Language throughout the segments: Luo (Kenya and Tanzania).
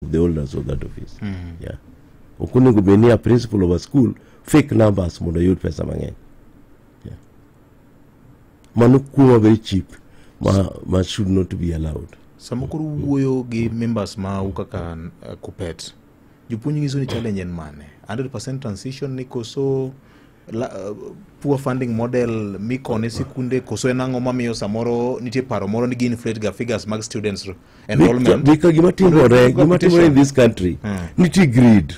the owners of that office yeah ok onego bed ni a principal of a school fake numbers mondo oyud pesa mang'eny yeah. mano kuma very cheap ma, ma should not be allowed sama koro wuoyo gi members ma u kaka uh, kupet jopuonj nyiso ni challenge en mane 100 transition ni koso La, uh, poor funding model mikone sikunde koso en ang'o mamiyo samoro nitie paro moro ni gi inflate ga figures mag students enrollment bika gima timore gima timore in this country hmm. nitie greed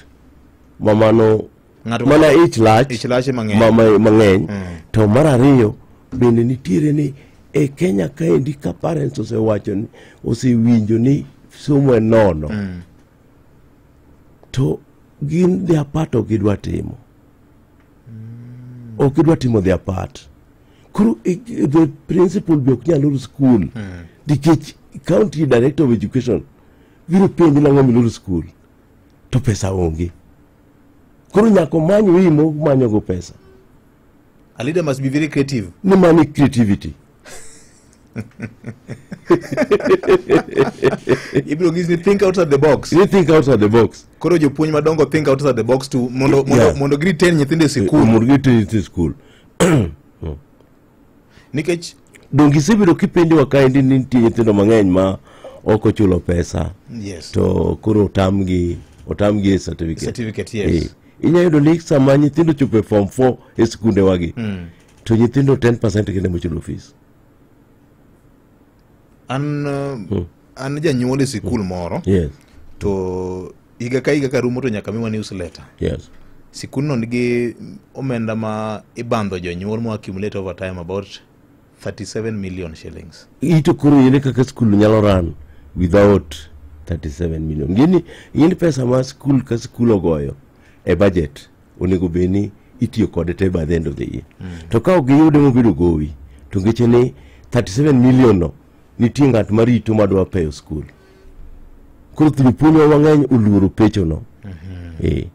mamano mana ich lach ich lach mang'eny hmm. to mar ariyo bende nitiere ni e Kenya kaendi ka parents osewacho ni osewinjo ni somo e nono hmm. to gin their part of gidwa timo ok idwa timo their part koro eh, the principal be ok nyal loro skul nikech county director of education biro penji nang'o miloro skul to pesa onge koro nyaka omany wimo manyogo pesa A leader must be very creative. ni mani creativity ibiro gis ni think outside the box you think outside the box koro jopuonj madongo think outside the box to mondo mondo Yeah. mondo giritain nyithindo e sikul mondo giteri e skul nikech donge isebedo kipenjowa kaendi ni nitie nyithindo mang'eny ma ok ochulo pesa yes to koro otamgi otamgi e certificate Certificate, yes. Eh, inyalo yudo ni sama nyithindo chopo e form 4 e skundewagi to nyithindo 10% kende mochulo fees an uh, hmm. an janyuol e sikul hmm. moro yes. to higa ka higa karumo to nyaka miwa newsletter yes. sikulno nigi omenda ma ibandho jonyuol mo accumulate over time about 37 million shillings ito koro yene kaka skul nyalo run without 37 million gini yini pesa ma skul ka skul ogoyo e budget onego bed ni itiyo kode te by the end of the year to ka ok giyude mobedo gowi to ngeche ni 37 million no nitie ng'at marito madwa peyo skul koro jopuonjwa mang'eny oluoro pechono Eh,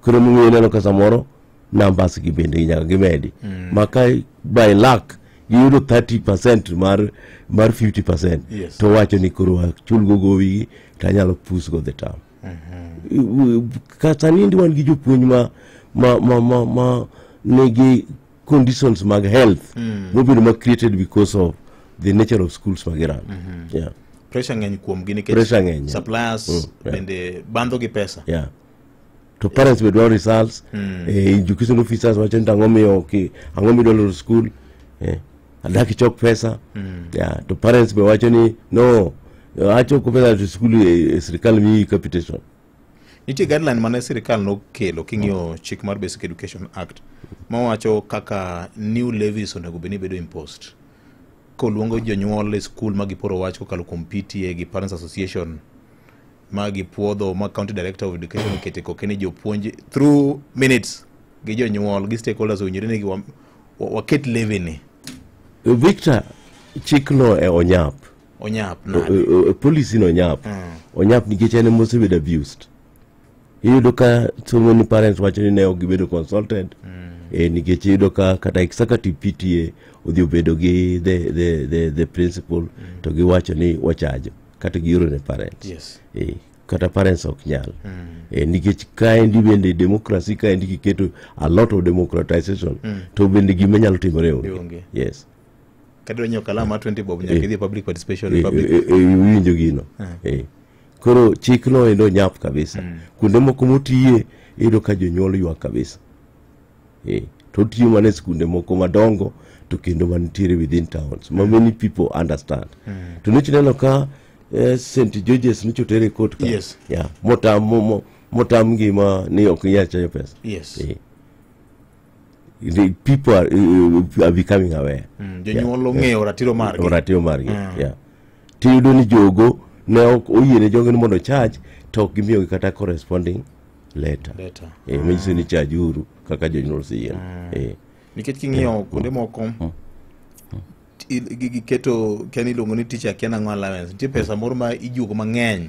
koro emomiyo ineno ka samoro numbers gi bende nyaka gimedi ma ka by luck giyudo 30 percent mar mar 50 percent Yes. to wacho ni koro achulgo gowigi to anyalo pusgo the term kata nindi wan gi jopuonj ma ma ma ma, ma nigi conditions mag health mm. mobedo ma created because of the nature of schools mag Iran mm -hmm. yeah. pressure ng'eny kuomgi nikech pressure ng'eny suppliers mm, yeah. bende bandho gi pesa yeah to parents be dwaro results mm. eh, education officers wacho ni ang'o miyo okay, ang'o midwaro school eh. adaki chok pesa mm. yeah, to parents be wacho ni no achoko pesa to school eh, eh, sirikal miyi capitation nitie guideline mane sirikal nokelo king'iyo mm. chik mar basic education act mawacho kaka new levies onego bed ni bedo imposed koluongo jonyuol e skul ma giporo wach kokalo kuom pta gi parents association ma gipuodho ma county director of education okete koke ni jopuonj through minutes gi jonyuol gi stakeholders owinjore ni wa- wa- waket leveni victor chikno e onyap onyap O- nade o- o- policy no onyap onyap nikech en ema osebedo abused iyudo ka so many parents wacho ni ne ok gibedo consulted eh, nikech iyudo ka kata executive pta odhi obedo gi the, the, the, the principal to giwacho ni wachajo kata gioro ne parents yes. e, kata parents ok nyal mm. e, nikech kaendi bende demokrasi kaendi kiketo a lot of democratization mm. to bende gima nyalo timore onge yes kadwa nyiewo kalam ma 20 bob nyaka eh. idhi public participation eh, public eh, winjo gino eh koro chik no endo nyap kabisa mm. kuonde moko motiye iyudo ka jonyuol ywak kabisa eh, to otiyo mana e skunde moko madongo to kendo manitiere within towns ma many people understand to nich neno ka eh, st georges nich otere kot ka Yes. yeah, motam mo- mo- motam ngima ni ok inyal chayo pesa yes Eh. The people are, eh, are becoming aware Mm, jonyuol ong'eyo ratiro margi ratiro margi yeah. tiyudo ni jogo ne ok oyiene jogo ni mondo charge to ok gimiyogi kata corresponding leta Leta. Eh, manyiso ni chajuru kaka jonyuol siyien Eh, nikech king'iyo kuonde moko i- gi- giketo ken iluongo ni teacher ken ang'o allowance nitie pesa moro ma ijuogo mang'eny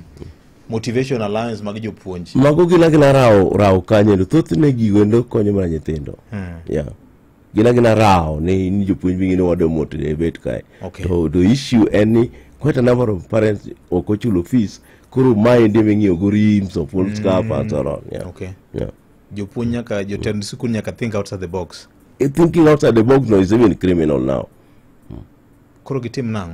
motivation allowance mag jopuonj mago gila gila rawo rawo kanye thothne gigo endo konyo mana nyithindo yeah. gin agina rawo ni ni jopuonj wingi ni wado moto e bet kae Okay. to the issue en ni quite a number of parents ok ochulo fees koro mae ndi ming'iyo go rims of old scarf and so on yeah. Okay. Yeah. jopuonj nyaka jotend sikul nyaka think outside the box Eh, thinking outside the box now is even criminal now koro gitim nang'o